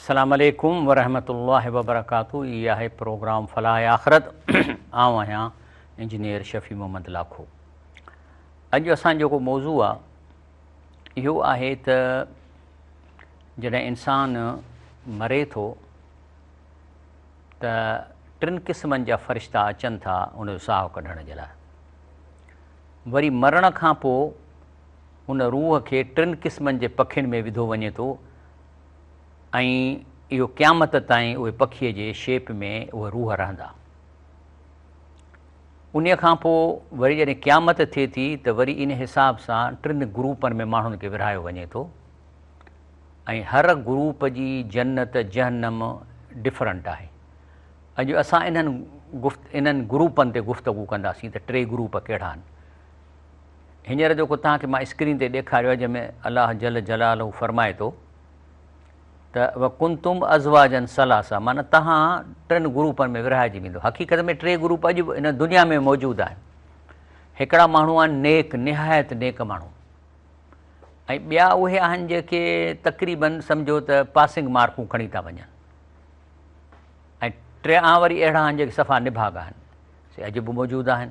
السلام عليڪم ورحمة الله وبرڪاته هي آهي پروگرام فلاح آخرت آئون آهيان انجنيئر شفيع محمد لاکو اڄ اسان جيڪو موضوع آهي اهو آهي ته جڏهن انسان مري ٿو ته ٽن قسمن جا فرشتا اچن ٿا ان جو ساهو ڪڍڻ جي لاء وري مرڻ کان پوء ان روح کي ٽن قسمن جي پکين ۾ وڌو وڃي ٿو ۽ اهو قيامت تائين اهي پکيء جي شيپ ۾ اهي روح رهندا. انهيء کان پوء وري جڏهن قيامت ٿئي ٿي ته وري ان حساب سان ٽن گروپن ۾ ماڻهن کي ورهايو وڃي ٿو ۽ هر گروپ جي جنت جهنم ڊفرنٽ آهي. اڄ اسان انهن گفت انهن گروپن تي گفتگو ڪنداسين ته ٽي گروپ ڪهڙا آهن. هينئر جيڪو توهان کي مان اسڪرين تي ڏيکاريو آهي جنهن ۾ الله جل جلاله فرمائي ٿو ته وڪنتم ازواجا ثلاثا معنيٰ توهان ٽن گروپن ۾ ورهائجي ويندو حقيقت ۾ ٽي گروپ اڄ به ان دنيا ۾ موجود آهن هڪڙا ماڻهو آهن نيڪ نهايت نيڪ ماڻهو ۽ ٻيا اهي آهن جيڪي تقريبن سمجھو ته پاسنگ مارڪون کڻي ٿا وڃن ۽ ٽيان وري اهڙا آهن جيڪي صفا نڀاڳا آهن سي اڄ به موجود آهن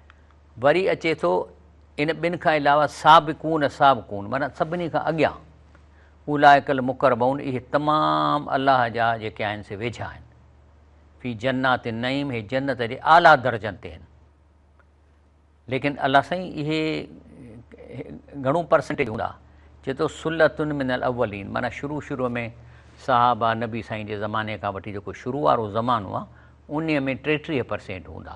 وري اچي ٿو ان ٻن کان علاوه سابقون سابقون معنيٰ سڀني کان اڳيان اولئک المقربون اهي تمام الله جا جيڪي آهن سي ويجها آهن في جنات النعيم هي جنت جي اعليٰ درجن تي آهن ليڪن الله سائين اهي گهڻو پرسنٽيج هوندا چي ٿو سلتن من الاولين معنيٰ شروع شروع ۾ صحابه نبي سائين جي زماني کان وٺي جيڪو شروع وارو زمانو آهي انهي ۾ ٽيٽيهه پرسينٽ هوندا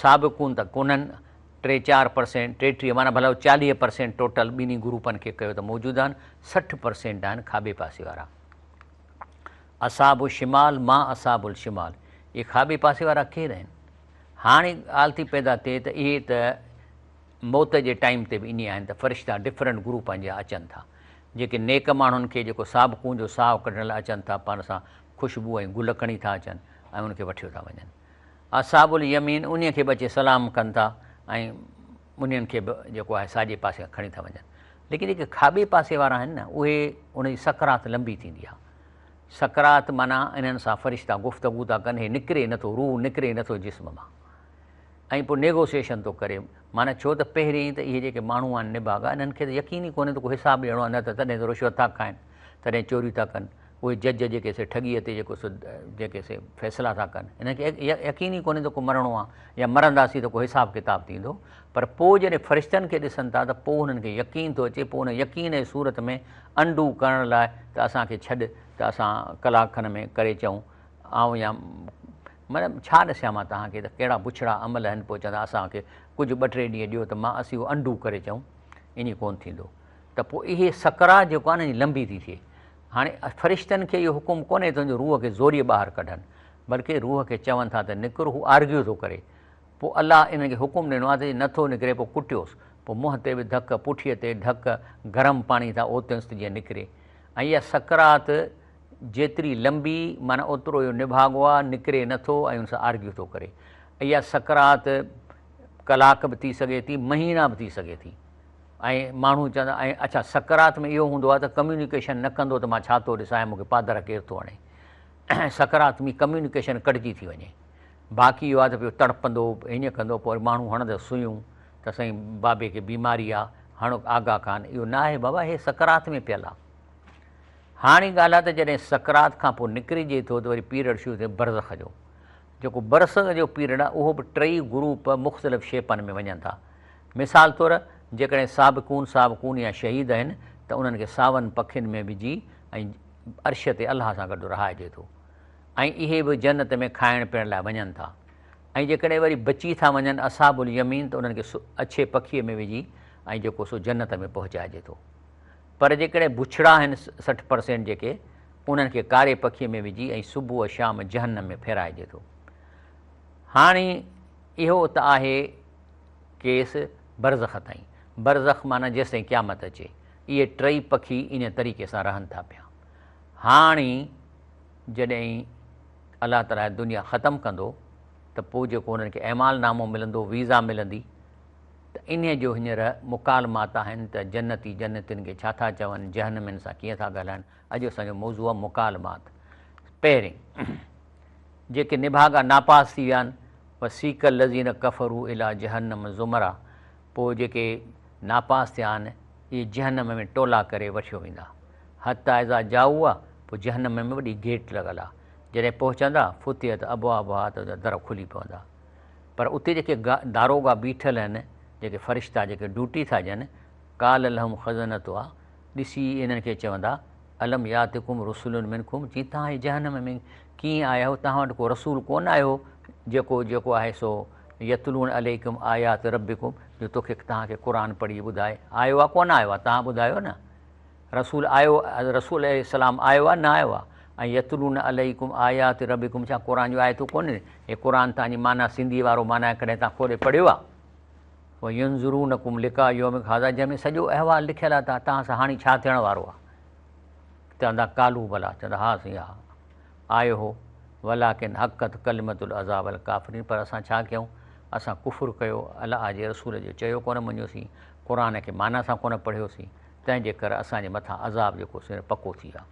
سابقون ته ڪونهن، ٽي چار پرسينٽ، ٽيٽيهه معنيٰ ڀلا چاليهه پرسينٽ ٽوٽل ٻنهي گروپن کي ڪيو ته موجوده آهن، سٺ پرسينٽ آهن کاٻي پاسي وارا. اصحاب الشمال ما اصحاب الشمال، اهي کاٻي پاسي وارا ڪير آهن؟ هاڻي ڳالهه ٿي پيدا ٿئي ته اهي ته موت جي ٽائيم تي به ائين آهن ته فرشتا ڊفرنٽ گروپن جا اچن ٿا، جيڪي نيڪ ماڻهن کي جيڪو سابقون جو ساهه ڪڍڻ لاء اچن ٿا، پاڻ سان خوشبو ۽ گل کڻي ٿا اچن ۽ ان کي وٺيو ٿا وڃن. اصحاب اليمين انهي کي به اچي سلام ڪن ٿا ۽ انهن کي به جيڪو آهي ساڄي پاسي کان کڻي ٿا وڃن ليڪن جيڪي کاٻي پاسي وارا آهن نه اهي ان جي سڪرات لنبي ٿيندي آهي سڪرات معنيٰ انهن سان فرشتا گفتگو ٿا ڪن هي نڪري نه ٿو روح نڪري نه ٿو جسم مان ۽ پوء نيگوسيشن ٿو ڪري معنيٰ ڇو ته پهرين ته اهي جيڪي ماڻهو آهن نڀاڳا انهن کي ته يقين ئي ڪونهي ته ڪو حساب ڏيڻو آهي نه ته تڏهن ته رشوت ٿا کائن تڏهن چوريون ٿا ڪن اهي جج جيڪي سي ٺڳيء تي جيڪو سو جيڪي سي فيصلا ٿا ڪن، هنن کي يقين ئي ڪونهي ته ڪو مرڻو آ يا مرنداسين ته ڪو حساب ڪتاب ٿيندو، پر پوء جڏهن فرشتن کي ڏسن ٿا ته پوء هنن کي يقين ٿو اچي، پوء ان يقين جي صورت ۾ انڊو ڪرڻ لاء ته اسان کي ڇڏ ته اسان ڪلاڪ کن ۾ ڪري اچون، آئون يا مطلب ڇا ڏسيان مان توهان کي ته ڪهڙا بڇڙا عمل هن پوء چوندا اسان کي ڪجهه ٻه ٽي ڏينهن ڏيو ته مان اسين اهو انڊو ڪري اچون، ائين ڪونه ٿيندو ته پوء اهي سڪرات جيڪو آ نه لنبي ٿي ٿئي هاڻي فرشتن کي اهو حڪم ڪونهي ته ان جو روح کي زوريء ٻاهر ڪڍن، بلڪه روح کي چون ٿا ته نڪر، هو آرگيو ٿو ڪري. پوء الله انهن کي حڪم ڏنو آهي ته جي نٿو نڪري پوء ڪٽيوس، پوء منهن تي به ڌڪ، پٺيء تي ڍڪ، گرم پاڻي سان اوتينس ته جيئن نڪري. ۽ اها سڪرات جيتري لنبي معنيٰ اوترو اهو نڀاڳو آهي، نڪري نٿو ۽ ان سان آرگيو ٿو ڪري. اها سڪرات ڪلاڪ به ٿي سگهي ٿي، مهينا به ٿي سگهي ٿي. ۽ ماڻهو چوندا آهن اڇا سڪرات ۾ اهو هوندو آهي ته ڪميونيڪيشن نه ڪندو ته مان ڇا ٿو ڏسان ۽ مون کي پادر ڪير ٿو هڻي سڪرات ۾ ڪميونيڪيشن ڪٽجي ٿي وڃي باقي اهو آهي ته پيو تڙپندو هينئن ڪندو پوء وري ماڻهو هڻندس سوئيون ته سائين بابي کي بيماري آهي هڻ آگا خان اهو نه آهي بابا هي سڪرات ۾ پيل آهي هاڻي ڳالهه آهي ته جڏهن سڪرات کان پوء نڪرجي ٿو ته وري پيريڊ شروع ٿئي برزخ جو جيڪو برزخ جو پيريڊ آهي اهو به ٽئي گروپ مختلف شيپن ۾ وڃن ٿا مثال طور جيڪڏهن سابقون سابقون يا شهيد آهن ته انهن کي ساون پکين ۾ وجهي ۽ عرش تي الله سان گڏ رهائجي ٿو ۽ اهي به جنت ۾ کائڻ پيئڻ لاء وڃن ٿا ۽ جيڪڏهن وري بچي ٿا وڃن اصحاب اليمين ته انهن کي اڇي پکيء ۾ وجهي ۽ جيڪو سو جنت ۾ پهچائجي ٿو پر جيڪڏهن بڇڙا آهن سٺ پرسينٽ جيڪي انهن کي ڪاري پکيء ۾ وجهي ۽ صبح شام جهنم ۾ ڦيرائجي ٿو هاڻي اهو ته آهي کيس برزخ تائين، برزخ معنيٰ جيستائين قيامت اچي، اهي ٽئي پکي انهيء طريقي سان رهن ٿا پيا. هاڻي جڏهن الله تعاليٰ هيء دنيا ختم ڪندو ته پوء جيڪو انهن کي اعمال نامو ملندو، ويزا ملندي، ته انهيء جو هينئر مڪالمات آهن ته جنتي جنتين کي ڇا ٿا چون، جهنمين سان ڪيئن ٿا ڳالهائن، اڄ اسان جو موضوع آهي مڪالمات. پهرين، جيڪي نڀاڳا ناپاس ٿي ويا آهن، وسيق الذين ڪفروا الي جهنم زمرا، پوء جيڪي ناپاس ٿيا آهن، اهي جهنم ۾ ٽولا ڪري وٺيو ويندا. حتي اذا جاؤها، پوء جهنم ۾ وڏي گيٽ لڳل آهي، جڏهن پهچندا، فتحت ابوابها، ته ان جا در کلي پوندا. پر اتي جيڪي داروغا بيٺل آهن، جيڪي فرشتا جيڪي ڊيوٽي ٿا ڏين، قال لهم خزنتها، ڏسي انهن کي چوندا، الم ياتڪم رسل منڪم، جي توهان جي جهنم ۾ ڪيئن آيا هو، توهان وٽ ڪو رسول ڪونه آيو هو، جيڪو جيڪو آهي سو يتلون عليڪم آيات ربڪم، جو توکي توهان کي قرآن پڙهي ٻڌائي، آيو آ ڪونه آيو آ، توهان ٻڌايو نه، رسول آيو رسول عليه السلام آيو آ نه آيو آ، ۽ يتلون عليڪم آيات ربڪم ڇا قرآن جون آيتون ڪونهن، هي قرآن توهان جي معنيٰ سنڌي وارو معنيٰ ڪڏهن توهان کولي پڙهيو آ؟ وينظرونکم لقاء يومک هذا جنهن ۾ سڄو احوال لکيل آهي ته تان سان هاڻي ڇا ٿيڻ وارو آهي چوندا قالو بلا چوندا ها سائين ها آيو هو ولاڪن حقت ڪلمت العذاب الڪافرين پر اسان ڇا ڪيون اسان ڪفر ڪيو الله جي رسول جو چيو ڪونه مڃيوسين قرآن کي معنيٰ سان ڪونه پڙهيوسين تنهن جي ڪري اسان جي مٿان عذاب جيڪو سين پڪو ٿي ويو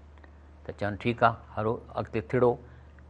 ته چون ٺيڪ آهي هلو اڳتي ٿڙو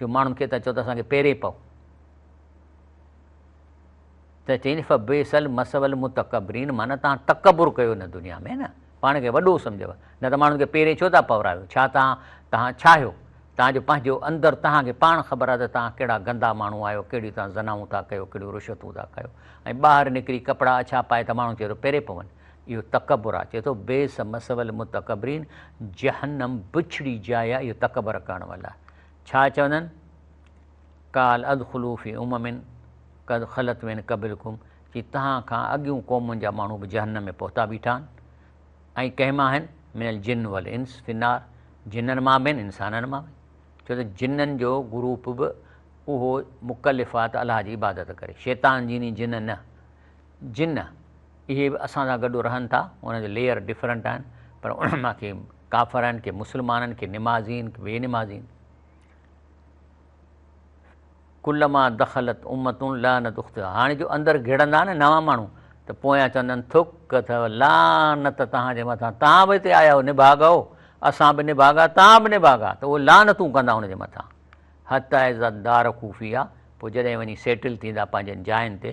جو ماڻهن کي تان چئو ته اسان کي پيري پئو ته چئين فبئس المثوى المتڪبرين معنيٰ تان تڪبر ڪيو هن دنيا ۾ نه پاڻ کي وڏو سمجهيو نه ته ماڻهن کي پيري ڇو ٿا پورايو ڇا تان تان ڇا آهيو تان جو پنهنجو اندر تان کي پاڻ خبر آهي ته تان ڪهڙا گندا ماڻهو آهيو ڪهڙيون تان زنائون ٿا ڪيو ڪهڙيون رشوتون ٿا ڪيو ۽ ٻاهر نڪري ڪپڙا اڇا پائي ته ماڻهو چئي ٿو پيري پون اهو تڪبر آ، چئي ٿو، بئس مثوي المتڪبرين، جهنم بڇڙي جاء آ اهو تڪبر ڪرڻ وارن لاء. ڇا چوندن؟ قال ادخلوا في امم قد خلت من قبلکم، چي توهان کان اڳيون قومن جا ماڻهو به جهنم ۾ پهتا بيٺا آهن ۽ ڪنهن مان آهن؟ من الجن والانس في النار، جنن مان به آهن انسانن مان به، ڇو ته جنن جو گروپ به اهو مڪلف آ ته الله جي عبادت ڪري، شيطان جيني جن نه. جن اهي به اسان سان گڏ رهن ٿا انهن جا ليئر ڊفرنٽ آهن پر انهن مان ڪي ڪافر آهن ڪي مسلمان آهن ڪي نمازي آهن ڪي بي نمازي آهن ڪلما دخلت امت لعنت اختها هاڻي جو اندر گهڙندا نه نوان ماڻهو ته پويان چوندن ٿڪ اٿو لعنت توهان جي مٿان توهان به هتي آيا آهيو نڀاڳا هو اسان به نڀاڳا توهان به نڀاڳا ته اهي لعنتون ڪندا ان جي مٿان حتائز دار خوفيا پوء جڏهن وڃي سيٽل ٿيندا پنهنجن جاين تي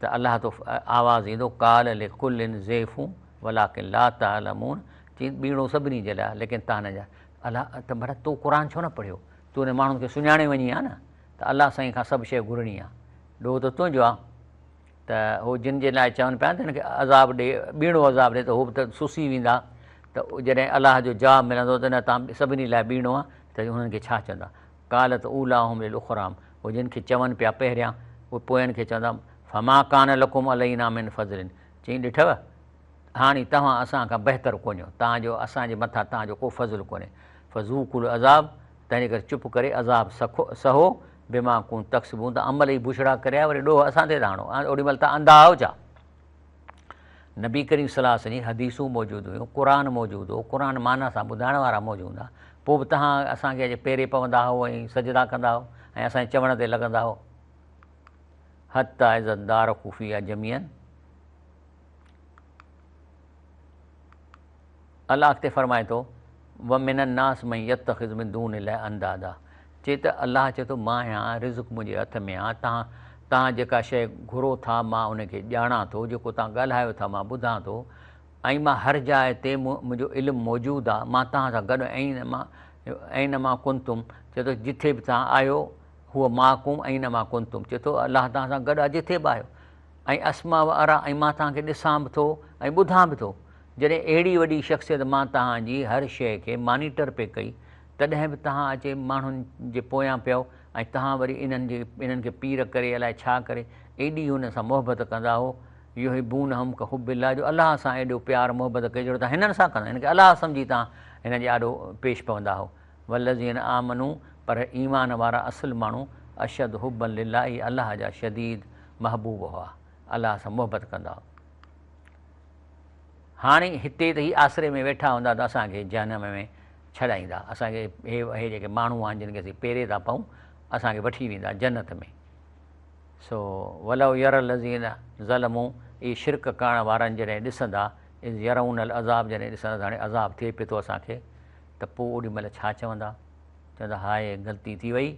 ته الله تو آواز ايندو قال لڪل ضعف ولڪن لا تعلمون چين ٻيڻو سڀني جي لاء ليڪن تان نه ڄاڻ الله ته ڀلا تو قرآن ڇو نه پڙهيو تو انهن ماڻهن کي سڃاڻي وڃي ها نه ته الله سائين کان سڀ شيء گهرڻي آ ڏوهه ته تنهنجو آ ته هو جن جي لاء چون پيا ته هن کي عذاب ڏي ٻيڻو عذاب ڏي ته هو به ته سسي ويندا ته جڏهن الله جو جواب ملندو ته نه تان سڀني لاء ٻيڻو آ ته انهن کي ڇا چوندا قالت اولاهم للاخرام هو جن کي چون پيا پهريان اهي پوئن کي چوندا فما ڪان لڪم علينا من فضل چيائين ڏٺو هاڻي توهان اسان کان بهتر ڪونهيو تان جو اسان جي مٿان توهان جو ڪو فضل ڪونهي فذوقوا العذاب تنهن ڪري چپ ڪري عذاب سکو سهو بما ڪنتم تڪسبون توهان عمل ئي بڇڙا ڪريا وري ڏوهه اسان تي ٿا هڻو اوڏي مهل توهان انڌا آهو ڇا نبي ڪريم صلي الله عليه وسلم جي حديثون موجود هيون، قرآن موجود هو، قرآن معنيٰ سان ٻڌائڻ وارا موجود هوندا پوء به تهان اسان کي اڄ پيري پوندا هئو ۽ سجدا ڪندا هئو ۽ اسان جي چوڻ تي لڳندا هئو. حتي اذا ادارڪوا فيها جميعا. الله اڳتي فرمائي ٿو، ومن الناس من يتخذ من دون الله اندادا چي ته الله چي ٿو مان آهيان رزق منهنجي هٿ ۾ آ تان توهان جيڪا شيء گهرو ٿا مان ان کي ڄاڻان ٿو جيڪو توهان ڳالهايو ٿا مان ٻڌان ٿو ۽ مان هر جاء تي منهنجو علم موجود آ مان توهان سان گڏ اينما اينما ڪنتم چي ٿو جٿي به توهان آهيو هو معڪم اينما ڪنتم چي ٿو الله توهان سان گڏ آ جٿي به آهيو ۽ اسمع و اريٰ ۽ مان توهان کي ڏسان به ٿو ۽ ٻڌان به ٿو. جڏهن اهڙي وڏي شخصيت مان توهان جي هر شيء کي مانيٽر پئي ڪئي تڏهن به توهان اچي ماڻهن جي پويان پيا هئو ۽ توهان وري انهن جي انهن کي پير ڪري الائي ڇا ڪري ايڏي هن سان محبت ڪندا هئو يحبونهم كحب الله جو الله سان ايڏو پيار محبت ڪجهڙو توهان هنن سان ڪندا هن کي الله سمجهي توهان هن جي آڏو پيش پوندا هئو. والذين آمنوا پر ايمان وارا اصل ماڻهو اشد حبا لله الله جا شديد محبوب هئا، الله سان محبت ڪندا هئا. هاڻي هتي ته هي آسري ۾ ويٺا هوندا ته اسان کي جهنم ۾ ڇڏائيندا، اسان کي هي اهي جيڪي ماڻهو آهن جن کي اسين پيري ٿا پئون اسان کي وٺي ويندا جنت ۾. سو ولو يري الذين ظلموا اهي شرڪ ڪرڻ وارن جڏهن ڏسندا اذ يرون العذاب جڏهن ڏسندا ته هاڻي عذاب ٿئي پئي ٿو اسان کي ته پوء اوڏي مهل ڇا چوندا؟ چوندا هاء غلطي ٿي وئي،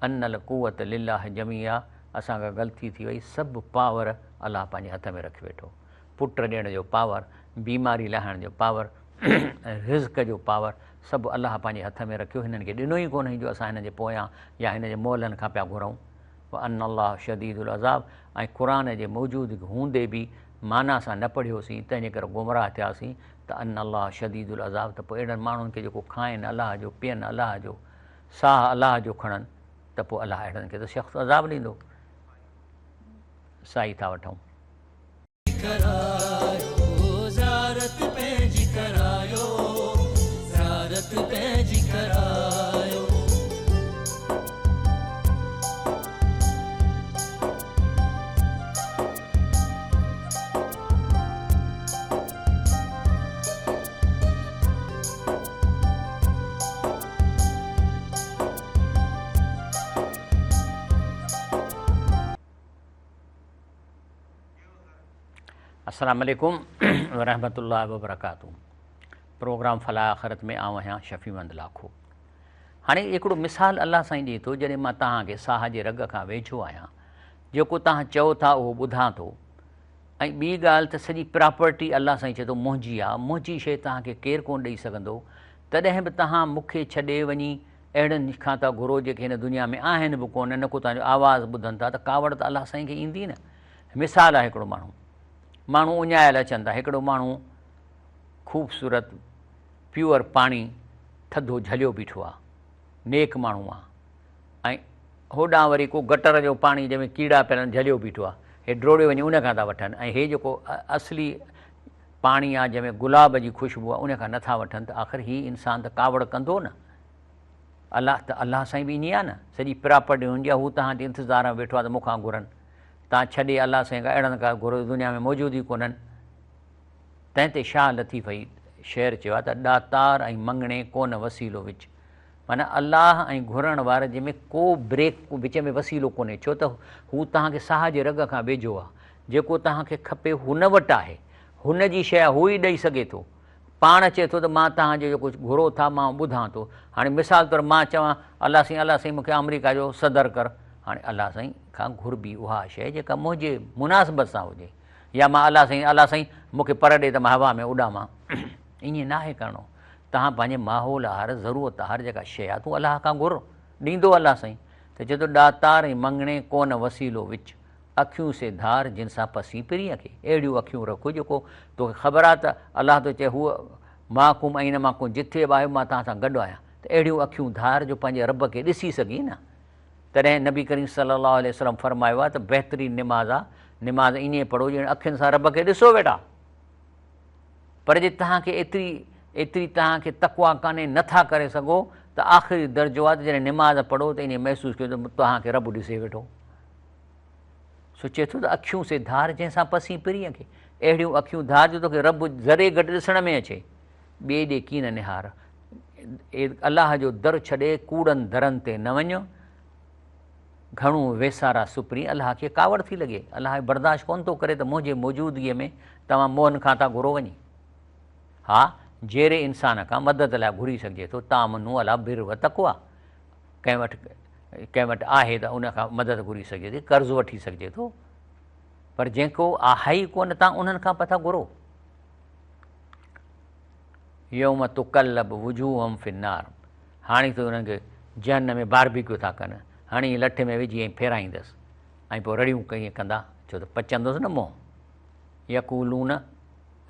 ان القوة لله جميعا اسان کان غلطي ٿي وئي، سڀ پاور الله پنهنجي هٿ ۾ رکي ويٺو، پٽ ڏيڻ جو پاور، بيماري لاهڻ جو پاور ۽ رزق جو پاور سڀ الله پنهنجي هٿ ۾ رکيو، هنن کي ڏنو ئي ڪونهين جو اسان هنن جي پويان يا هن جي مولن کان پيا گهرئون. وان الله شديد العذاب ۽ قرآن جي موجودگي هوندي به معنيٰ سان نه پڙهيوسين تنهن جي ڪري گمراهه ٿياسين ته ان الله شديد العذاب ته پوء اهڙن ماڻهن کي جيڪو کائين الله جو پين الله جو ساهه الله جو کڻن ته پوء الله اهڙن کي ته سخت عذاب ڏيندو سائي ٿا وٺون. السلام عليڪم ورحمة الله وبرڪاته پروگرام فلاح آخرت ۾ آئون آهيان شفيع مند لاکو هاڻي هڪڙو مثال الله سائين ڏي ٿو جڏهن مان توهان کي ساهه جي رڳ کان ويجهو آهيان جيڪو توهان چئو ٿا اهو ٻڌان ٿو ۽ ٻي ڳالهه ته سڄي پراپرٽي الله سائين چئي ٿو منهنجي آ منهنجي شيء توهان کي ڪير ڪونه ڏئي سگهندو تڏهن به توهان مون کي ڇڏي وڃي اهڙن کان ٿا گهرو جيڪي هن دنيا ۾ آهن به ڪونه نه ڪو توهان جو آواز ٻڌن ٿا ته ڪاوڙ ته الله سائين کي ايندي نه مثال آ هڪڙو ماڻهو ماڻهو اڃايل اچن ٿا هڪڙو ماڻهو خوبصورت پيور پاڻي ٿڌو جهليو بيٺو آ نيڪ ماڻهو آ ۽ هوڏانهن وري ڪو گٽر جو پاڻي جنهن ۾ ڪيڙا پيل آهن جهليو بيٺو آهي هي ڊوڙيو وڃي ان کان ٿا وٺن ۽ هي جيڪو اصلي پاڻي آهي جنهن ۾ گلاب جي خوشبو آهي ان کان نٿا وٺن ته آخر هي انسان ته ڪاوڙ ڪندو نه الله ته الله سائين به ائين آهي نه سڄي پراپرٽي هن جي آهي هو توهان جي انتظار ۾ ويٺو آهي ته مون کان گهرن تان ڇڏي الله سائين کان اهڙا نه ڪا گهرو دنيا ۾ موجود ئي ڪونهن تنهن تي شاهه لطيف هي شعر چيو آهي ته ڏاتار ۽ مڱڻي ڪونه وسيلو وچ معنيٰ الله ۽ گهرڻ وارن جي ۾ ڪو بريڪ، ڪو وچ ۾ وسيلو ڪونهي، ڇو ته هو توهان کي ساهه جي رڳ کان ويجهو آهي. جيڪو توهان کي کپي هن وٽ آهي. هن جي شيء هو ئي ڏئي سگهي ٿو. پاڻ چئي ٿو ته مان توهان جو جيڪو گهرو ٿا مان ٻڌان ٿو. هاڻي مثال طور مان چوان الله سائين الله سائين مون کي آمريڪا جو صدر ڪر. هاڻي الله سائين کان گهربي اها شيء جيڪا منهنجي مناسبت سان هجي يا مان الله سائين الله سائين مون کي پر ڏي ته مان هوا ۾ اڏامان. ائين ناهي ڪرڻو. تهان پنهنجي ماحول آهر، ضرورت آهر جيڪا شيء آهي تون الله کان گهر، ڏيندو الله سائين. ته چئي ٿو ڏاتار ۽ مڱڻي ڪونه وسيلو وچ، اکيون سي ڌار جن سان پسين پرينء کي. اهڙيون اکيون رک جو ڪو توکي خبر آهي ته الله ٿو چئي هو معكم اين ما ڪنتم جٿي به آهيو مان توهان سان گڏ آهيان ته اهڙيون اکيون ڌار جو پنهنجي رب کي ڏسي سگهين نه. تڏهن نبي ڪريم صلي الله عليه وسلم فرمايو آهي ته بهترين نماز آهي نماز ائين پڙهو ڄڻ اکين سان رب کي ڏسو ويٺا. پر جي توهان کي ايتري ايتري توهان کي تقويٰ ڪانهي نه ٿا ڪري سگهو ته آخري درجو آهي ته جڏهن نماز پڙهو ته ائين محسوس ڪيو ته توهان کي رب ڏسي ويٺو سو چئي ٿو ته اکيون سي ڌار جنهن سان پسين پرين کي اهڙيون اکيون ڌار جو توکي رب ذري گهٽ ڏسڻ ۾ اچي ٻئي ڏي ڪين نهار الله جو در ڇڏي ڪوڙن درن تي نه وڃ گهڻو ويسارا سپرين الله کي ڪاوڙ ٿي لڳي. الله برداشت ڪونه ٿو ڪري ته منهنجي موجودگيء ۾ توهان مؤن کان ٿا گهرو وڃي. ها، جيري انسان کان مدد لاء گهري سگهجي ٿو، تامنوا لا بر و تقوا، ڪنهن وٽ ڪنهن وٽ آهي ته ان کان مدد گهري سگهجي ٿي، قرض وٺي سگهجي ٿو، پر جنهن ڪو آهي ئي ڪونه تان انهن کان پئي ٿا گهرو. يوم تقلب وجوههم في النار هاڻي تون انهن کي جهنم ۾ باربيڪيو ٿا ڪن، هڻي ائين لٺ ۾ وجهي ائين ڦيرائيندس ۽ پوء رڙيون ڪري ڪندا، ڇو ته پچندوس نه منهن. يقولون،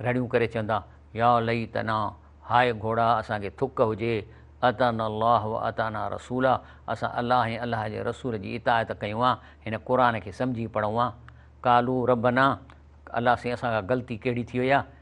رڙيون ڪري چوندا، يا ليتنا، هاء گهوڙا اسان کي ٿڪ هجي، اطعنا الله و اطعنا رسولا، اسان الله ۽ الله جي رسول جي اطاعت ڪيون ها، هن قرآن کي سمجهي پڙهون ها. قالوا ربنا، الله سائين اسان کان غلطي ڪهڙي ٿي وئي آهي،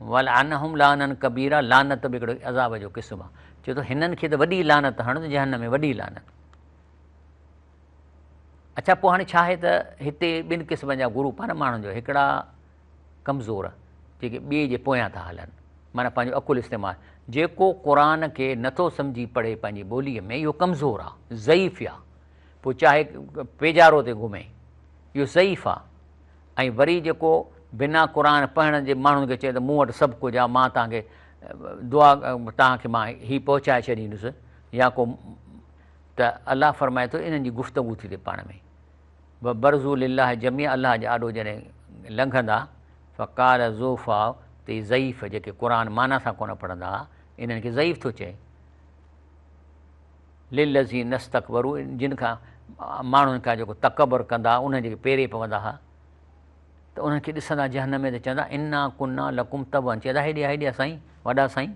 ولعنهم لعنا ڪبيرا لعنت به هڪڙو عذاب جو قسم آ چوي ٿو هنن کي ته وڏي لعنت هڻ جهنم ۾ وڏي لعنت اڇا پوء هاڻي ڇا آهي ته هتي ٻن قسمن جا گروپ آهن ماڻهن جو هڪڙا ڪمزور جيڪي ٻئي جي پويان ٿا هلن معنی پنهنجو عقل استعمال جيڪو قرآ کي نٿو سمجهي پڙهي پنهنجي ٻولي ۾ اهو ڪمزور آ ضعيف آ پوء چاهي پيجارو تي گهمي اهو ضعيف آ ۽ وري جيڪو بنا قرآن پڙهڻ جي ماڻهن کي چئي ته مون وٽ سڀ ڪجهه آهي مان توهان کي دعا توهان کي مان هي پهچائي ڇڏيندس يا ڪو ته الله فرمائي ٿو انهن جي گفتگو ٿي ٿئي پاڻ ۾ و برزو لله جميع الله جي آڏو جڏهن لنگهندا فقال ذوفا تي ضعيف جيڪي قرآن معنيٰ سان ڪونه پڙهندا انهن کي ضعيف ٿو چئي للذين استڪبروا جن کان ماڻهن کان جيڪو تڪبر ڪندا هئا انهن جيڪي پيري پوندا هئا ته انهن کي ڏسندا جهنم ۾ ته چوندا انا ڪنا لڪم تبعا چئي ته هيڏي آ هيڏي آ سائين وڏا سائين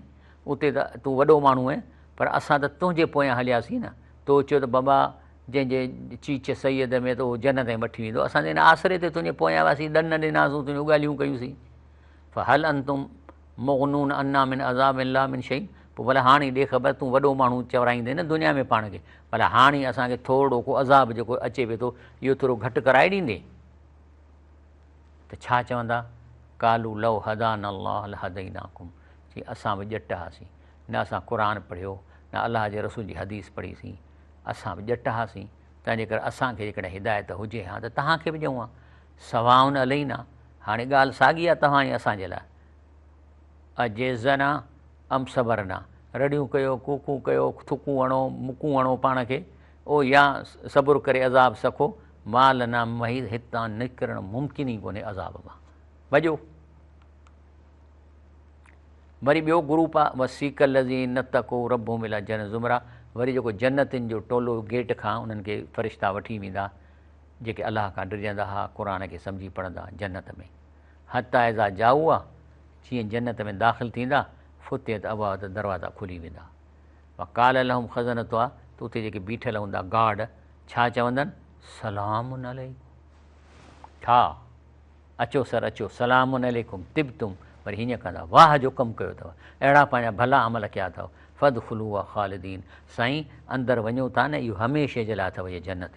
اتي ته تون وڏو ماڻهو اهين پر اسان ته تنهنجي پويان هلياسين نه تو چيو ته بابا جنهن جي چيچ سيد ۾ ته اهو جنت تائين وٺي ويندو اسان ته ان آسري تي تنهنجي پويان وياسين ڏن ڏناسون تنهنجون ڳالهيون ڪيوسين فهل انتم مغنون عنا من عذاب الله من شيء پوء ڀلا هاڻي ڏي خبر تون وڏو ماڻهو چورائيندين نه دنيا ۾ پاڻ کي ڀلا هاڻي اسان کي ٿورڙو ڪو عذاب جيڪو اچي پئي ٿو اهو ٿورو گهٽ ڪرائي ڏيندين ته ڇا چوندا قالوا لو هدانا الله لهديناكم چي اسان به ڄٽ هئاسين نه اسان قرآن پڙهيو نه الله جي رسول جي حديث پڙهي سين اسان به ڄٽ هئاسين تنهن جي ڪري اسان کي جيڪڏهن هدايت هجي ها ته توهان کي به ڏيون ها سواء علينا، هاڻي ڳالهه ساڳي آ توهان ۽ اسان جي لاء. اجزعنا ام صبرنا، رڙيون ڪيو، ڪوڪون ڪيو، ٿڪون هڻو، مڪون هڻو پاڻ کي، او يا صبر ڪري عذاب سکو، ما لنا من محيص، هتان نڪرڻ ممڪن ئي ڪونهي عذاب مان. ڀڄو. وري ٻيو گروپ آ، وسيق الذين اتقوا ربهم الي الجنة زمرا، وري جيڪو جنتين جو ٽولو گيٽ کان انهن کي فرشتا وٺي ويندا، جيڪي الله کان ڊڄندا ها قرآن کي سمجهي پڙهندا جنت ۾، حتي اذا جاؤها، جيئن جنت ۾ داخل ٿيندا، فتحت ابوابها ته دروازا کلي ويندا. وقال لهم خزنتها ته اتي جيڪي بيٺل هوندا گارڊ ڇا چوندن، سلام عليڪم ٺا، اچو سر اچو، سلام عليڪم طبتم وري هينئن ڪندا، واهه جو ڪم ڪيو اٿو، اهڙا پنهنجا ڀلا عمل ڪيا اٿو، فادخلوها خالدين سائين اندر وڃو ٿا نه اهو هميشه جي لاء اٿو هيء جنت.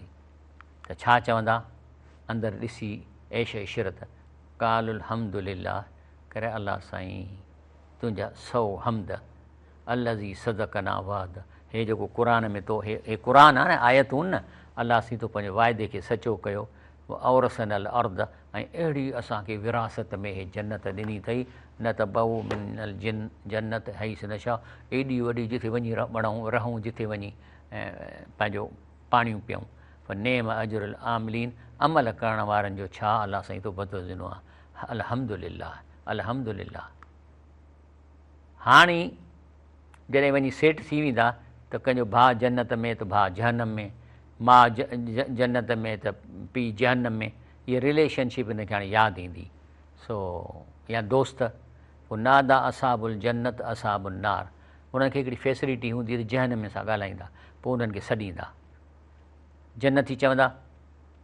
ته ڇا چوندا؟ اندر ڏسي عيش عشرت قال الحمد لله ڪري الله سائين تنهنجا سئو حمد الذي صدقنا وعد هي جيڪو قرآن ۾ تو هي هي قرآن آهي نه آيتون نه الله سائين تو پنهنجي واعدي کي سچو ڪيو واورثنا الارض ۽ اهڙي اسان کي وراثت ۾ هي جنت ڏني اٿئي نتبوء من الجن جنت حيث نشاء ايڏي وڏي جتي وڃي بڻائون رهون جتي وڃي پنهنجو پاڻيون پيئون، فنعم اجر العاملين عمل ڪرڻ وارن جو ڇا الله سائين تو بدلو ڏنو آ الحمدلله الحمدلله هاڻي جڏهن وڃي سيٽ ٿي ويندا ته ڪنهن جو ڀاء جنت ۾ ته ڀاء جهنم ۾ ماء جنت ۾ ته پي جهنم ۾ هي رليشن شپ هن کي هاڻي ياد ايندي سو يا دوست ونادا اصحاب الجنت اصحاب النار انهن کي هڪڙي فيسليٽي هوندي ته جنهن نموني سان ڳالهائيندا پوء انهن کي سڏيندا جنت ٿي چوندا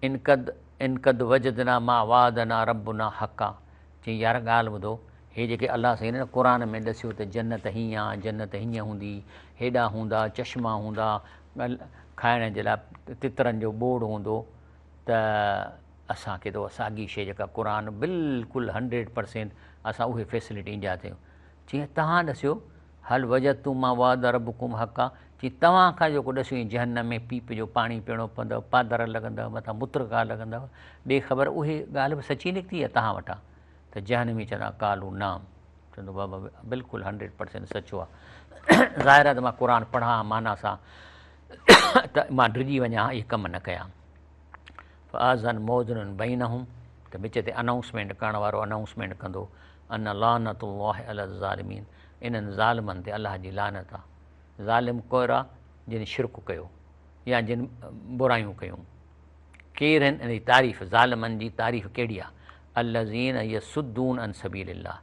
ان قد ان قد وجدنا ما وعدنا ربنا حقا چئين يار ڳالهه ٻڌو هي جيڪي الله سائين هن قرآن ۾ ڏسيو ته جنت هيئان جنت هيئن هوندي هيڏا هوندا چشما هوندا کائڻ جي لاء تترن جو ٻوڙ هوندو ته اسان کي ته ساڳي شيء جيڪا قرآن بلڪل هنڊريڊ پرسينٽ اسان اهي فيسليٽي انڊيا تي چيائين، توهان ڏسيو، هل وجدتم ما وعد ربكم حقا، چيائين، توهان کان جيڪو ڏسيو ايئن جهنم ۾ پيپ جو پاڻي پيئڻو پوندو، پادر لڳندؤ، مٿان مترڪا لڳندا، ٻي خبر اهي ڳالهه به سچي نڪتي يا توهان وٽان؟ ته جهنمي چوندا، قالوا نعم، چوندو بابا بلڪل هنڊريڊ پرسينٽ سچو آ، ظاهر آ ته مان قرآن پڙهان ها معنيٰ سان ته مان ڊڄي وڃان ها اهي ڪم نه ڪيا ها. فاذن موذن بينهم ته وچ تي انائونسمينٽ ڪرڻ وارو انائونسمينٽ ڪندو ان لعنت الله علي الظالمين انهن ظالمن تي الله جي لعنت آ ظالم ڪورا جن شرڪ ڪيو يا جن برايون ڪيون ڪير هن انهي تعريف ظالمن جي تعريف ڪهڙي آ الذين يصدون عن سبيل الله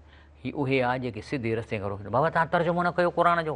هي اهي آ جيڪي سڌي رستي کان روڪن بابا تان ترجمو نه ڪيو قرآن جو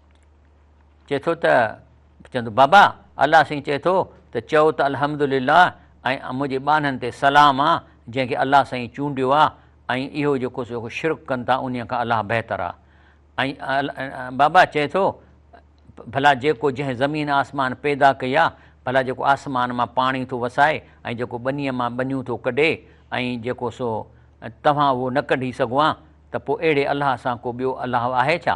چئي ٿو ته چون ٿو بابا الله سائين چئي ٿو ته چئو ته الحمدلله ۽ منهنجي ٻانهن تي سلام آ جنهن کي الله سائين چونڊيو آ ۽ اهو جيڪو سو شرڪ ڪن ٿا انهي کان الله بهتر آ ۽ بابا چئي ٿو ڀلا جيڪو جنهن زمين آسمان پيدا ڪئي آ ڀلا جيڪو آسمان مان پاڻي ٿو وسائي ۽ جيڪو ٻنيء مان ٻنيون ٿو ڪڍي ۽ جيڪو سو توهان اهو نه ڪڍي سگهو آ ته پوء اهڙي الله سان ڪو ٻيو الله آهي ڇا؟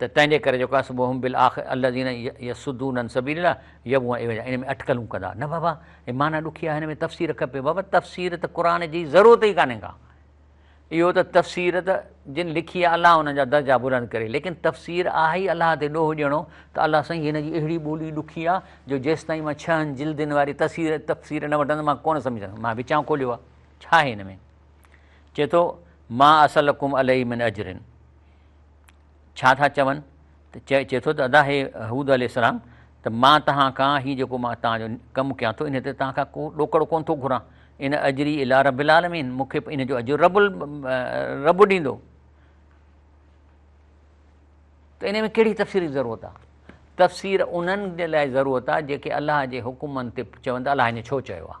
ته تنهن جي ڪري جيڪو آهي وهم بالاخ الذين يصدون عن سبيل الله يبغون عوجا ان ۾ اٽڪلون ڪندا نه بابا هي معنيٰ ڏکي آهي هن ۾ تفسير کپي بابا تفسير ته قرآن جي ضرورت ئي ڪانهي ڪا اهو ته تفسير ته جن لکي آهي الله انهن جا درجا بلند ڪري ليڪن تفسير آهي ئي الله تي ڏوهه ڏيڻو ته الله سائين هن جي اهڙي ٻولي ڏکي آهي جو جيستائين مان ڇهن جلدين واري تفسير تفسير نه وٺندم مان ڪونه سمجهندم مان وچان کوليو آهي ڇا آهي هن ۾ چئي ٿو، ما اسئلڪم عليه من اجر ڇا ٿا چون؟ ته چئي ٿو ته ادا هي هود عليه السلام ته مان توهان کان هي جيڪو مان توهان جو ڪم ڪيان ٿو ان تي توهان کان ڪو ڏوڪڙو ڪونه ٿو گهران ان اجري الٰي رب العالمين مون کي ان جو اجر رب رب ڏيندو ته ان ۾ ڪهڙي تفسير جي ضرورت آهي تفسير انهن جي لاء ضرورت آهي جيڪي الله جي حڪمن تي چون ٿا الله هن ڇو چيو آهي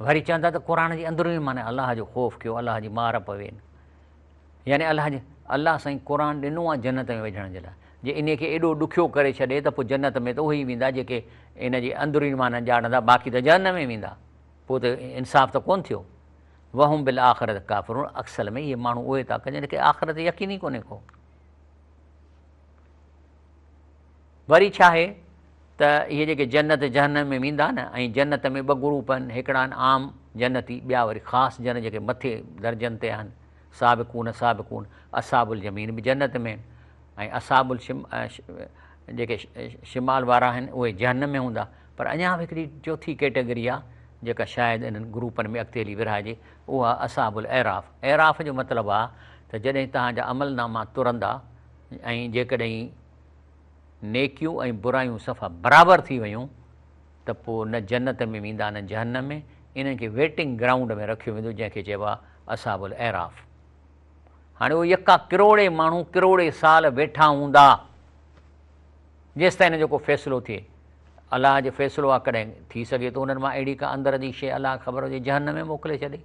وري چون ٿا ته قرآن جي اندروني معني الله جو خوف ڪيو الله جي مار پوي نه يعني الله جي الله سائين قرآن ڏنو آهي جنت ۾ وجهڻ جي لاء جي انهي کي ايڏو ڏکيو ڪري ڇڏي ته پوء جنت ۾ ته اهي ئي ويندا جيڪي ان جي اندروني معني ڄاڻندا باقي ته جهنم ۾ ويندا پوء ته انصاف ته ڪونه ٿيو وهم بالآخرت ڪافرون اڪصل ۾ اهي ماڻهو اهي ٿا ڪن جن کي آخرت يقين ئي ڪونهي ڪو وري ڇا آهي ته اهي جيڪي جنت جهنم ۾ ويندا نه ۽ جنت ۾ ٻه گروپ آهن هڪڙا آهن عام جنتي ٻيا وري خاص جنت جيڪي مٿي درجن تي آهن سابقون سابقون اصحاب اليمين به جنت ۾ آهن ۽ اصحاب الشم جيڪي شمال وارا آهن اهي جهنم ۾ هوندا پر اڃا به هڪڙي چوٿي ڪيٽيگري آهي جيڪا شايد انهن گروپن ۾ اڳتي هلي ورهائجي اها اصحاب الاعراف اعراف جو مطلب آهي ته جڏهن توهان جا عمل ناما ترندا ۽ جيڪڏهن نيڪيون ۽ برايون صفا برابر ٿي ويون ته پوء نه جنت ۾ ويندا نه جهنم ۾ انهن کي ويٽنگ گرائونڊ ۾ رکيو ويندو جنهن کي چئبو آهي اصحاب الاعراف هاڻي اهي يڪا ڪروڙين ماڻهو ڪروڙين سال ويٺا هوندا جيستائين هن جو ڪو فيصلو ٿئي الله جو فيصلو آهي ڪڏهن ٿي سگهي ٿو انهن مان اهڙي ڪا اندر جي شيء الله کي خبر هجي جهنم ۾ موڪلي ڇڏي.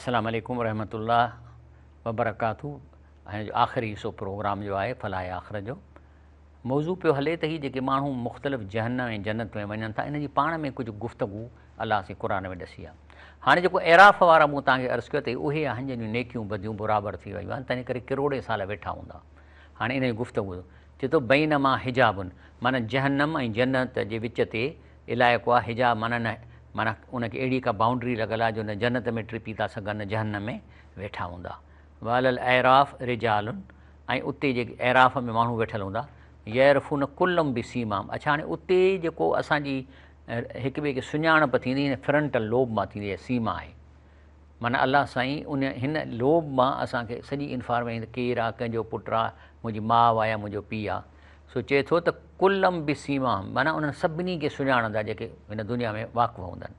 السلام عليڪم ورحمة الله وبرڪاته ۽ آخري حصو پروگرام جو آهي فلاح آخر جو موضوع پيو هلي ته هي جيڪي ماڻهو مختلف جهنم ۽ جنت ۾ وڃن ٿا انهن جي پاڻ ۾ ڪجهه گفتگو الله سين قرآن ۾ ڏسي آهي. هاڻي جيڪو اعراف وارا مون توهان کي عرض ڪيو ته اهي آهن جن جون نيڪيون بديون برابر ٿي ويون آهن تنهن ڪري ڪروڙين سال ويٺا هوندا. هاڻي انهن جي گفتگو چي ٿو بينما حجاب معنيٰ جهنم ۽ جنت جي وچ تي علائقو آهي حجاب معنيٰ نه معنيٰ ان کي اهڙي ڪا بائونڊري لڳل آهي جو نه جنت ۾ ٽپي ٿا سگهن نه جهنم ۾ ويٺا هوندا وعلي الاعراف رجال ۽ اتي جيڪي اعراف ۾ ماڻهو ويٺل هوندا يعرفون ڪلم بسيماهم اڇا هاڻي اتي جيڪو اسان جي هڪ ٻئي کي سڃاڻپ ٿيندي هن فرنٽل لوب مان ٿيندي آهي سيما آهي معنيٰ الله سائين ان هن لوب مان اسان کي سڄي انفارميشن ڪير آ ڪنهن جو پٽ آ منهنجي ماء آ يا منهنجو پيء آ سو چئي ٿو ته ڪلم بسيماهم معنيٰ انهن سڀني کي سڃاڻندا جيڪي هن دنيا ۾ واقف هوندن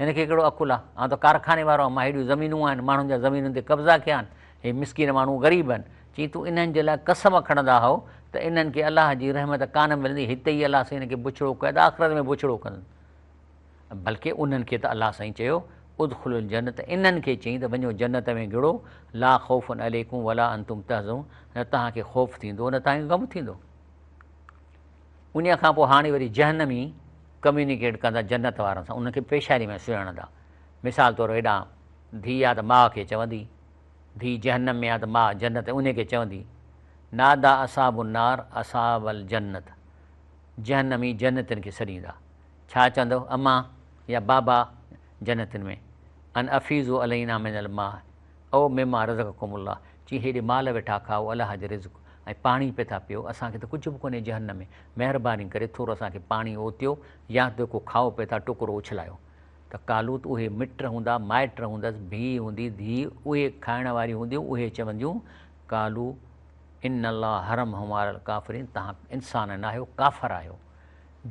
هن کي ڪهڙو عقل آ؟ آئون ته ڪارخاني وارو آهيان، مان هيڏيون زمينون آهن، ماڻهن جا زمينن تي قبضا ڪيا آهن، هي مسڪين ماڻهو غريب آهن. چيائين تون انهن جي لاء قسم کڻندا هئو ته انهن کي الله جي رحمت ڪانه ملندي، هت ئي الله سائين هنن کي بڇڙو ڪيو ته آخرت ۾ بڇڙو ڪندن. بلڪ انهن کي ته الله سائين چيو، ادخلو الجنت، انهن کي چيائين ته وڃو جنت ۾ گهڙو، لا خوف عليڪم ولا انتم تحزنون، نه توهان کي خوف ٿيندو نه توهان کي غم ٿيندو. انهيء کان پوء هاڻي وري جهنمي ڪميونيڪيٽ ڪندا جنت وارن سان، انهن کي پيشانيء ۾ سهيڙندا. مثال طور ايڏا ڌيء آ ته ماء کي چوندي، ڌيء جهنم ۾ آ ته ماء جنت ۾ انهيء کي چوندي، نادا اصحاب النار اصحاب الجنت، جهنمي جنتين کي سڏيندا، ڇا چوندو، اما يا بابا جنتين ۾، ان افيضوا علينا من الماء، او مما رزقكم الله، چي هيڏي مال ويٺا کائو، الله جي رزق، ۽ پاڻي پئي ٿا پيئو، اسان کي ته ڪجهه به ڪونهي جهنم ۾، مهرباني ڪري ٿورو اسان کي پاڻي اوتيو، يا ته ڪو کائو پئي ٿا ٽڪرو اڇلايو. ته قالوت اهي مٽ هوندا، مائٽ هوندس، ڀيء هوندي، ڌيء، اهي کائڻ واريون هونديون، اهي چونديون، قالو ان الله حرمهما علي الڪافرين، تهان انسان ناهيو، ڪافر آهيو.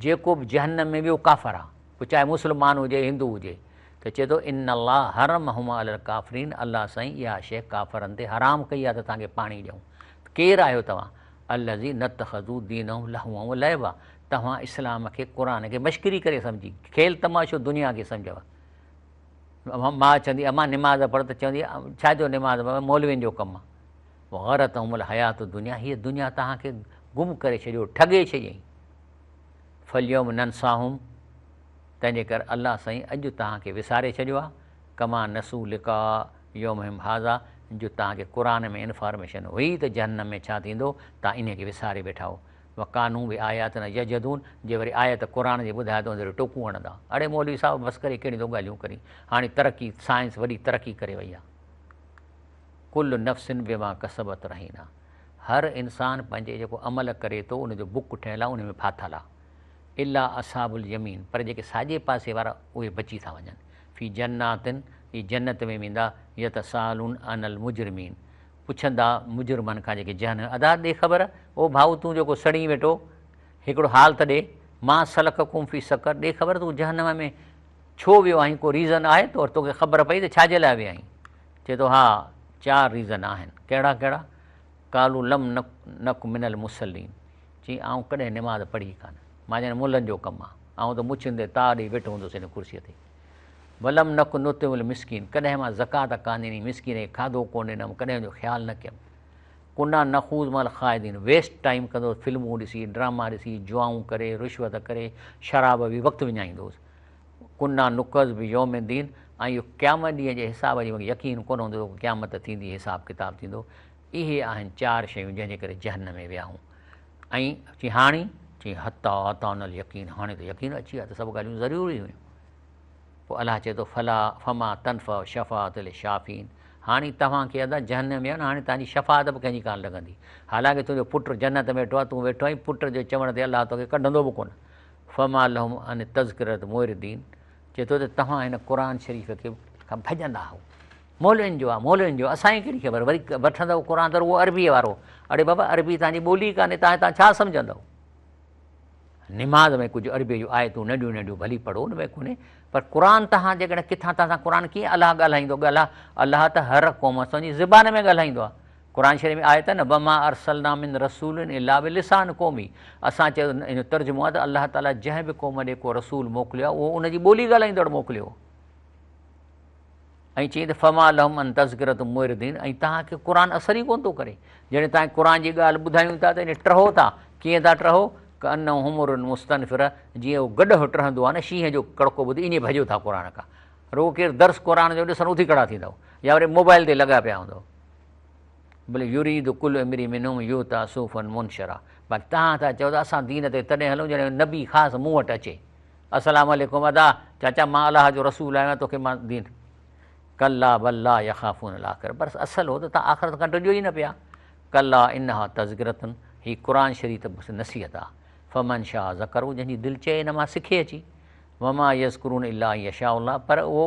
جيڪو به جهنم ۾ ويو ڪافر آ پوء چاهي مسلمان هجي هندو هجي ته چئي ٿو ان الله حرمهما علي الڪافرين الله سائين اها شيء ڪافرن تي حرام ڪئي آ ته توهان کي پاڻي ڏيون ته ڪير آهيو توهان الذين اتخذوا دينهم لهوا ولعبا توهان اسلام کي قرآن کي مشڪري ڪري سمجهي کيل تماشو دنيا کي سمجهيو ماء چوندي امان نماز پڙهه ته چوندي ڇا جو نماز پڙهه مولوين جو ڪم آ وغرتهم الحياة الدنيا هيء دنيا توهان کي گم ڪري ڇڏيو، ٺڳي ڇڏيائين. فاليوم ننساهم تنهنجي ڪر الله سائين اڄ توهان کي وساري ڇڏيو آهي ڪما نسو لقاء يومهم هذا جو توهان کي قرآن ۾ انفارميشن هئي ته جهنم ۾ ڇا ٿيندو توهان انهي کي وساري ويٺا آهو وڪانو بآياتنا يجحدون جي وري آيت قرآن جي ٻڌائي ته ان تي ٽوڪون هڻندا اڙي مولوي صاحب بس ڪري ڪهڙيون ٿو ڳالهيون ڪرين هاڻي ترقي سائنس وڏي ترقي ڪري وئي آهي. ڪل نفس بما کسبت رهينا هر انسان پنهنجي جيڪو عمل ڪري ٿو ان جو بڪ ٺهيل آهي ان ۾ ڦاٿل آهي الا اصحاب اليمين پر جيڪي ساڄي پاسي وارا اهي بچي ٿا وڃن في جنات اهي جنت ۾ ويندا يتسالون عن المجرمين پڇندا مجرمن کان جيڪي جهنم ادا ڏي خبر او ڀائو تون جيڪو سڙين ويٺو هڪڙو حال ته ڏي ما سلڪڪم في سقر ڏي خبر تون جهنم ۾ ڇو ويو آهين ڪو ريزن آهي تو توکي خبر پئي ته ڇاجي لاء ويا آهين چئي ٿو ها چار ريزن آهن، ڪهڙا ڪهڙا؟ قالو لم نڪ من المصلين چيائين آئون ڪڏهن نماز پڙهي ئي ڪانه، مان ڄڻ ملن جو ڪم آهي، آئون ته مڇين تي تاء ڏئي ويٺو هوندس هن ڪرسيء تي. ولم نڪ نطعم المسڪين ڪڏهن مان زڪوات ڪانه ڏني، مسڪين کي کاڌو ڪونه ڏنم، ڪڏهن ان جو خيال نه ڪيم. ڪنا نخوض مع الخائضين ويسٽ ٽائيم ڪندو هوس، فلمون ڏسي، ڊراما ڏسي، جوئائون ڪري، رشوت ڪري، شراب وي وقت وڃائيندو هوس. ڪنا نڪز بي يوم دين ۽ اهو قيامت ڏينهن جي حساب جي مونکي يقين ڪونه هوندو ته قيامت ٿيندي حساب ڪتاب ٿيندو اهي آهن چار شيون جنهن جي ڪري جهنم ۾ وياهون ۽ چي هاڻي چي حتا اتان اليقين هاڻي ته يقين اچي ويا ته سڀ ڳالهيون ضروري هيون پوء الله چي ٿو فلا فما تنفع شفاعت الشافين هاڻي توهان کي ادا جهنم ويا هاڻي توهان جي شفاعت به ڪنهن جي ڪان لڳندي حالانڪه تنهنجو پٽ جنت ۾ ويٺو آهي تون ويٺو آهين پٽ جو چوڻ تي الله توکي ڪڍندو به ڪونه فما لهم عن التذڪرة معرضين چئي ٿو ته توهان هن قرآن شريف کي کان ڀڄندا آهو مولوين جو آهي مولوين جو اسان کي ڪهڙي خبر وري وٺندو قرآن ته رڳو عربي وارو اڙي بابا عربي تان جي ٻولي ڪانه تان تان ڇا سمجهندو نماز ۾ ڪجهه عربي جو آيتون ننڍيون ننڍيون ڀلي پڙهو ان ۾ ڪونهي پر قرآن تان جيڪڏهن ڪٿان تان قرآن ڪيئن الله ڳالهائيندو ڳالها الله ته هر قوم سان زبان ۾ ڳالهائيندو آهي قرآن شريف ۾ آيت آهي نه وما ارسلنا من رسول الا بلسان قومي اسان چيو ان جو ترجمو آهي ته الله تعالي جنهن به قوم ڏي ڪو رسول موڪليو آهي اهو ان جي ٻولي ڳالهائيندڙ موڪليو ۽ چيائين ته فما لهم ان تذڪرت مردين ۽ توهان کي قرآن اثر ئي ڪونه ٿو ڪري جڏهن توهان قرآن جي ڳالهه ٻڌايون ٿا ته ان ٽهو ٿا ڪيئن ٿا ٽهو ڪه ان حمر مستنفر جيئن اهو گڏهه ٽهندو آهي نه شينهن جو ڪڙڪو ٻڌي ائين ڀڄو ٿا قرآن کان رڳو ڪير درس قرآن جو ڏسن اٿي کڙا ٿيندو يا وري موبائل تي لڳا پيا هوندو بل يريد کل امري منهم يوتا صوفا منشرا پر تهان ٿا چئو ته اسان دين تي تڏهن هلون جڏهن نبي خاص مون وٽ اچي السلام عليڪم ادا چاچا مان الله جو رسول آهيان توکي مان دين ڪلا بل لا يخافون الاخر پر اصل هو ته تان آخرت کان ڊڄو ئي نه پيا ڪلا انها تذڪرتن هي قرآن شريف بس نصيحت آ فمن شاهه ذڪر جنهن جي دل چئي ان مان سکي اچي وما يذڪرون الا يشاء الله پر اهو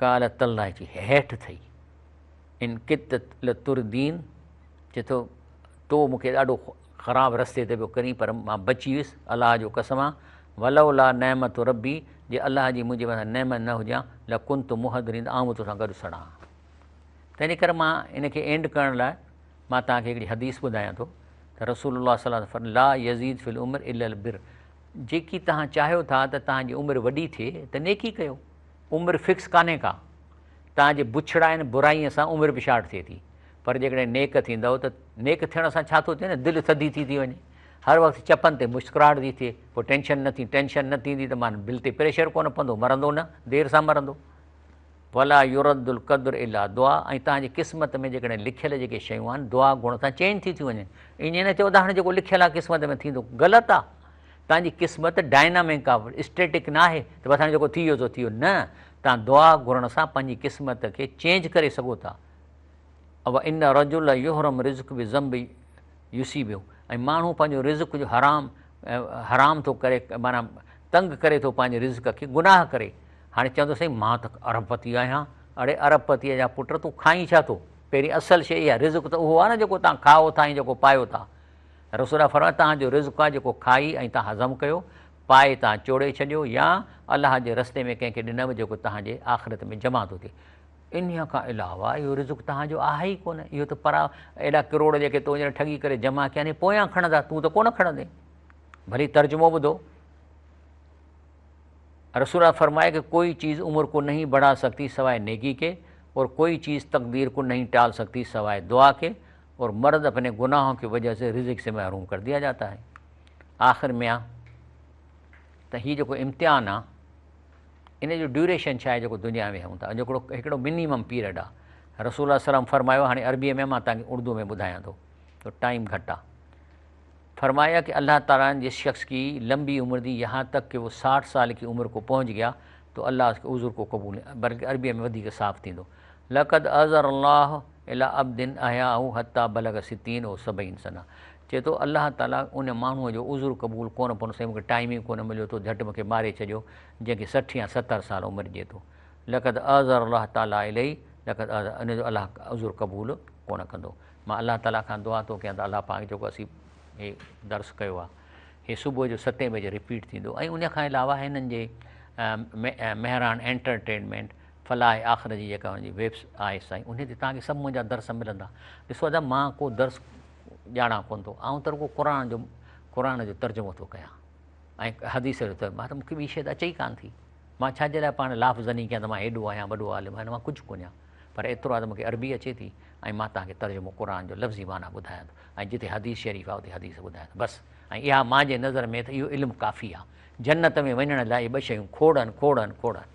ڪالهه تلهه جي هيٺ ٿئي. ان ڪت لتردين چئي ٿو، تو مون کي ڏاڍو خراب رستي تي پيو ڪرين پر مان بچي ويس، الله جو قسم آ، ولولا نعمت ربي، جي الله جي منهنجي مٿان نعمت نه هجان لڪنت محضرين ته آئون به توسان گڏ سڙان ها. تنهنجي ڪري مان ان کي اينڊ ڪرڻ لاء مان توهان کي هڪڙي حديث ٻڌايان ٿو ته رسول الله صلي الله عليه وسلم فرمايو لا يزيد في العمر الا البر جيڪي توهان چاهيو ٿا ته توهان جي عمر وڏي ٿئي ته نيڪي ڪيو. عمر فڪس ڪانهي ڪا. توهان جي بڇڙائين برائين سان عمر به شارٽ ٿئي ٿي. پر جيڪڏهن نيڪ ٿيندؤ ته نيڪ ٿيڻ سان ڇا ٿو ٿئي نه دل ٿڌي ٿي ٿي وڃي. هر وقت چپن تي مسڪراهٽ ٿي ٿئي. پوء ٽينشن نه ٿي ٽينشن نه ٿيندي ته معنيٰ دل تي پريشر ڪونه پوندو مرندو نه دير سان مرندو. ولا يرد القدر الا دعا ۽ توهان جي قسمت ۾ جيڪڏهن لکيل جيڪي شيون آهن دعا گهڻ سان چينج ٿي ٿيون وڃن. ائين نه چئو ته هاڻي جيڪو لکيل آهي قسمت ۾ ٿيندو. غلط آهي. توهان جي قسمت ڊائنامڪ آف اسٽيٽڪ نه آهي ته بس هاڻي جيڪو ٿي ويو سو ٿي ويو نه توهان دعا گهرڻ سان پنهنجي قسمت کي چينج ڪري سگهو ٿا او ان رجل يحرم رزق بذنب يصيبه ۽ ماڻهو پنهنجو رزق جو حرام حرام ٿو ڪري معنی تنگ ڪري ٿو پنهنجي رزق کي گناهه ڪري هاڻي چوندو سائين مان ته ارب پتي آهيان اڙي ارب پتي جا پٽ تون کائين ڇا ٿو پهرين اصل شيء اها رزق ته اهو آهي نه جيڪو تان کائو ٿا ۽ جيڪو پايو ٿا رسول الله فرمايو توهان جو رزق آهي جيڪو کائي ۽ توهان هضم ڪيو، پائي توهان چوڙي ڇڏيو يا الله جي رستي ۾ ڪنهن کي ڏنئو جيڪو توهان جي آخرت ۾ جمع ٿو ٿئي. انهيء کان علاوه اهو رزق توهان جو آهي ئي ڪونه، اهو ته پرا اهڙا ڪروڙ جيڪي تو هينئر ٺڳي ڪري جمع ڪيا آهن اهي پويان کڻندا، تون ته ڪونه کڻندين. ڀلي ترجمو ٻڌو. رسول الله فرمايو ڪه ڪوئي چيز عمر ڪو نهين بڙها سگتي سواء نيڪي ڪي اور ڪوئي چيز تقدير ڪو نهين ٽال سگتي سواء دعا ڪي. اور مرد اپني گناهون ڪي وجهه سي رزق سي محروم ڪر ديا جاتا هي آخر ميا ته هي جيڪو امتحان آ ان جو ڊيوريشن ڇا آهي جيڪو دنيا ۾ هون ٿا جيڪڙو هڪڙو منيمم پيريڊ آ رسول الله سلام فرمايو هاڻي عربي ۾ مان تان اردو ۾ ٻڌايان ٿو تو ٽائيم گهٽ آ فرمايا ڪي الله تعالي جي شخص ڪي لمبي عمر دي يها تڪ ڪي وو 60 سال ڪي عمر ڪو پهنچ گيا تو الله اس ڪي عذر ڪو قبول بلڪه عربي ۾ وڌي ڪي صاف ٿيندو لقد عذر الله الٰي ابد احياه حتٰي بلغ ستين او سبعين سنه چئي ٿو الله تعالي ان ماڻهوء جو عذر قبول ڪونه ڪندو سائين مونکي ٽائيم ئي ڪونه مليو تو جهٽ مونکي ماري ڇڏيو جنهن کي سٺ يا ستر سال عمر ڏي ٿو لقد اعذر الله تعالي اليه لقد اعذر ان جو الله عذر قبول ڪونه ڪندو مان الله تعالي کان دعا ٿو ڪيان ته الله پاڪ جيڪو اسين هي درس ڪيو آهي هي صبح جو ستين بجي رپيٽ ٿيندو ۽ ان کان علاوه هنن جي مهراڻ انٽرٽينمينٽ فلاح آخر جي جيڪا ان جي ويب آهي سائين انهي تي توهان کي سڀ منهنجا درس ملندا. ڏسو ادا مان ڪو درس ڄاڻان ڪونه ٿو آئون ته رڳو قرآن جو قرآن جو ترجمو ٿو ڪيان ۽ حديث جو ته مان ته مون کي ٻي شيء ته اچي ئي ڪانه ٿي مان ڇا جي لاء پاڻ لاف زني ڪيان ته مان هيڏو آهيان وڏو عالم آهيان مان ڪجهه ڪونه آهيان پر ايترو آهي ته مون کي عربي اچي ٿي ۽ مان توهان کي ترجمو قرآن جو لفظي معنيٰ ٻڌايان ٿو ۽ جتي حديث شريف آهي اتي حديث ٻڌايان ٿو بس ۽ اها مان جي نظر ۾ ته اهو علم ڪافي آهي جنت ۾ وڃڻ لاء اهي ٻه شيون کوڙ آهن کوڙ آهن کوڙ آهن